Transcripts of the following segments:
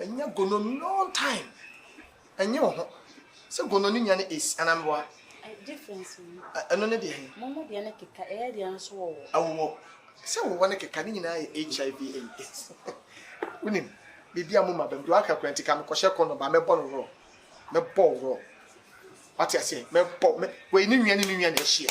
Ɛnyɛ gono long time. Ɛnyɛ wo ho. Sɛ gono ne nya ne is anaa meboa. Difference ni. Ɛno ne deɛ he. Momo deɛ ne keka ɛyɛ deɛ nso wɔwɔ. Ɛwɔ. Sɛ wɔwɔ ne keka ne nyinaa yɛ HIV and AIDS. Wonim biribi a mo ma bɛm deɛ waka kura nti ka mekɔhyɛ kɔndɔm ba mɛbɔ no rɔ. Mɛbɔ wo rɔ. Wate aseɛ mɛbɔ mɛ wei ne nwia ne ne nwia na ahyia.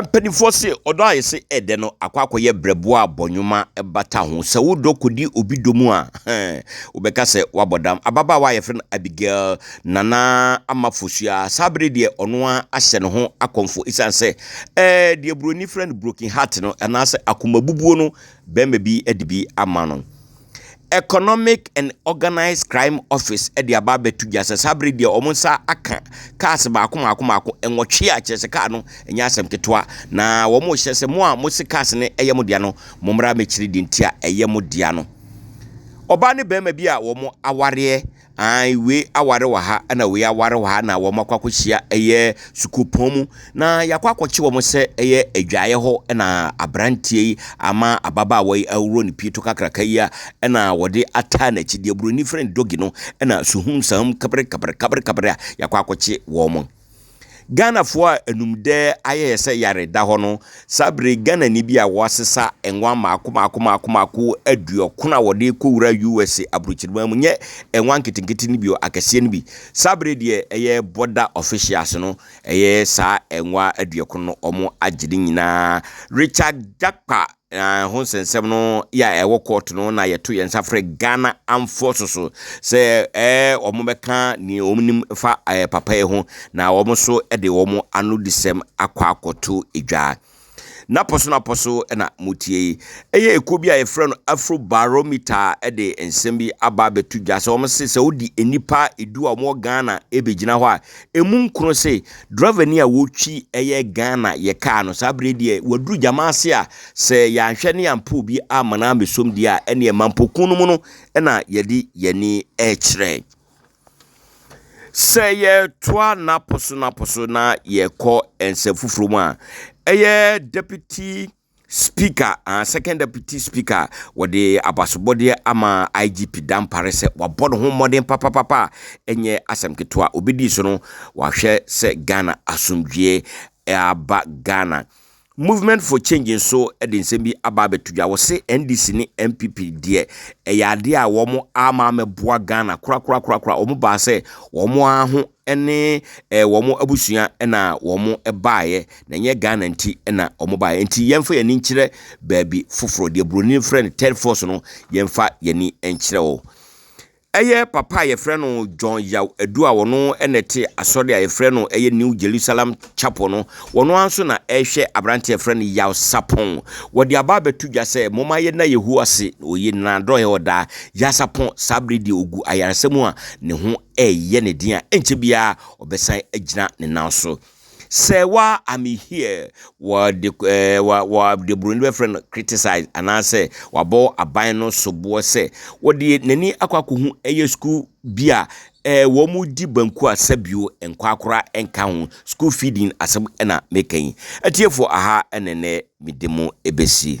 Mpanimfoɔ se ɔdɔ a yɛse ɛdɛ no akɔ akɔyɛ brɛboɔ a bɔnwoma bata ho. Sɛ wo dɔ kɔdi obi dɔ mu a, hɛn, wobɛka sɛ woabɔ dam. Ababaawa a yɛfrɛ no Abigail nana ama fosua. Saa bere deɛ ɔno ara ahyɛ ne ho akɔmfo esiane sɛ ɛɛ deɛ buroni frɛ no broken heart no anaasɛ akomabubuo no bɛrima bi de bi ama no. Economic and Organised Crime Office de aba abɛto dwa sɛ saa bere deɛ wɔn nsa aka cars baako mmaako mmaako nwɔtwe a kyerɛ sɛ car no nyɛ asɛm ketewa na wɔhyɛ sɛ mo a mo se cars no yɛ mo dea no mo mmara mɛkyiri deɛ nti a ɛyɛ mo dea no. Ɔbaa ne barima bi a wɔn awareɛ. Ae wei aware wɔ ha na wei aware wɔ ha na wɔn akɔ akɔhyia ɛyɛ sukuupɔn mu na yɛakɔ akɔkye wɔn sɛ ɛyɛ adwaeɛ hɔ na aberanteɛ yi ama ababaawa yi awuro ne pii to kakraka yi a ɛna wɔde ataa n'akyi deɛ buroni frɛ no dogi no ɛna suhum sahum kabere kabere kabere kabere a yɛakɔ akɔkye wɔn. Ghanafoɔ a anumdɛ ayɛ yɛ sɛ yare da hɔ no, saa berɛ yi Ghanani bi a wɔasesa nwa mmaako mmaako mmaako mmaako aduɔkron a wɔde rekɔwura USA aburokyireman mu, nyɛ nwa nketenkete no bio, akɛseɛ no bi. Saa berɛ yi deɛ ɛyɛ border officials no, ɛyɛ saa nwa aduɔkron no wɔn agye ne nyinaa. Richard Jakpa Na ɛho nsɛnsɛm no yɛ a ɛwɔ court no na yɛto yɛn nsa frɛ Ghana Armed Forces so sɛ ɛɛ wɔn bɛka nea wɔn nim fa ɛɛ papa yi ho na wɔn nso de wɔn ano disɛm akɔ akɔto edwa. Napɔ so napɔ so na mo tie yi. Ɛyɛ ekuo bi a yɛfrɛ no Afro Barometer ɛde nsɛm bi aba abɛto dwa sɛ wɔn se sɛ wodi nnipa edu a wɔn wɔ Ghana ɛbɛgyina hɔ a ɛmu nkron se driver ni a wɔtwi ɛyɛ Ghana yɛ car no saa bere deɛ waduru gyama ase a sɛ yɛanhwɛ ne yɛampɛ obi ama no amɛsom deɛ a ɛneɛ mampɔkun no mu no ɛna yɛde yɛni ɛkyerɛ sɛ yɛtoa napo so napo so na yɛkɔ ɛnsɛ foforɔ mu a ɛyɛ deputy Speaker ah Second Deputy Speaker wɔde abasobɔdeɛ ama IGP Dampare sɛ wabɔ ne ho mmɔden papapapa a ɛnyɛ asɛm ketewa. Obedi so no wahwɛ sɛ Ghana asomdwie aba Ghana. Movement for Change nso de nsɛm bi aba abɛto dwa. Wɔse NDC ne NPP deɛ ɛyɛ adeɛ a wɔn ama amɛboa Ghana korakorakorakora. Wɔn baa sɛ wɔn ara ho ne ɛɛ wɔn abusua na wɔbaeɛ, na ɛnyɛ Ghana nti na wɔbaeɛ. Nti yɛmfa yɛn ani nkyerɛ baabi foforɔ. Deɛ Buroni frɛ no third force no, yɛmfa yɛn ani nkyerɛ hɔ. Ɛyɛ papa a yɛfrɛ no John Yaw Adu a ɔno na ɛte asɔre a yɛfrɛ no ɛyɛ New Jerusalem Chapel no. Ɔno ara nso na ɛrehwɛ aberanteɛ a yɛfrɛ no Yaw Sapong. Wɔde aba abɛto dwa sɛ momma yɛnna Yehowa ase, ɔyɛ nyinaa dɔɔɛ ɔdaa. Yaw Sapong saa berɛ deɛ ɔgu ayaresa mu a ne ho reyɛ ne den a, ɛnkyɛ biara ɔbɛsan agyina ne nan so. Sɛ wa I'm here, wɔde ɛɛ wa wɔde buroni bɛfrɛ no criticize anaasɛ wabɔ aban no soboɔ sɛ wɔde n'ani akɔ akɔhu ɛyɛ sukuu bi a ɛɛ wɔn di banku a sɛbio nkwaakora nka ho school feeding asɛm ɛna meka yi. Atiefoɔ aha ɛna ɛnɛ mede mo ɛbɛsi.